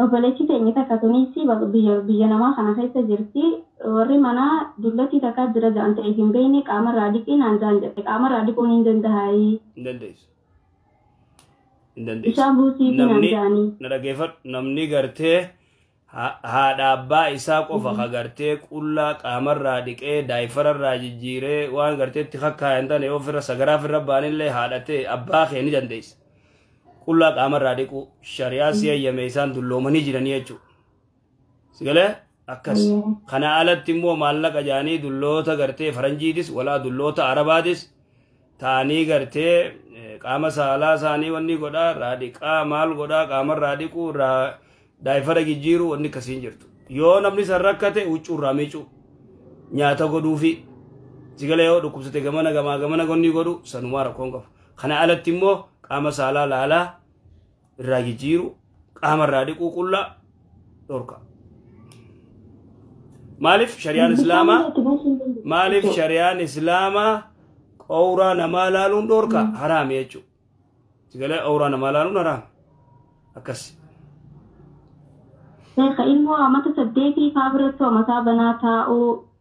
Obboleetti teenyi takka tuniis biyya namaa kana keessa jirti. Warri manaa dullattii takkaa jira ja'an ta'eef hin beekne qaamarraa dhiqii naan ja'an jette. Qaamarraa dhiquun hin dandahaayii? Hin dandeessu. Hin dandeessu. Bishaan buusiifi naan Namni ja'anii. na dhageeffadhu namni gartee haadha abbaa isaa qofa ka gartee qullaa qaamarraa dhiqee daayifararraa jijjiiree waan gartee itti kakkaayan tane yoo firra sagaraa firra baanillee haadha ta'e abbaa kee ni dandeessa. Qullaa qaamarraa dhiquu shari'aa si eeyyame isaan dulloomanii jiranii jechuudha. Sigalee akkas. Kana alatti immoo maallaqa jaanii dulloota gartee faranjiitis walaa dulloota arabaatis taanii gartee qaama saalaa isaanii wanni godhaa irraa dhiqaa maal godhaa qaama irraa dhiquu irraa daayifara jijjiiruu wanni akkasiin jirtu yoo namni san rakkate huccuu irraa miicuu nyaata godhuufi sigala yoo dhukkubsate gamana gamaa gamana gonni godhu sanumaa rakkoon qabu kana alatti immoo qaama saalaa laalaa irraa jijjiiru qaama irraa dhiquu qullaa dhorka. Maaliif shari'aan islaamaa maaliif shari'aan islaamaa qowraa namaa laaluun dhorka haraami jechuudha. Sigalee qowraa namaa laaluun haraami akkas. Sheekha ilmoo amata saddeetii faa biratti mataa banaa taa'uu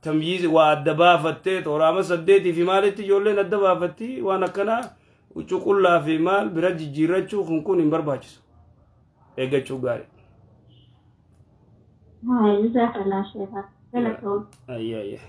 tamyiizi waa adda baafattee tooraama saddeetii fi maalitti ijoolleen adda baafatti waan akkanaa huccuu qullaa fi maal bira jijjiirrachuu kun kun hin barbaachisu eeggachuu gaarii. Haa, jazakallah sheekha. Galatoom. Ayyaa ayyaa.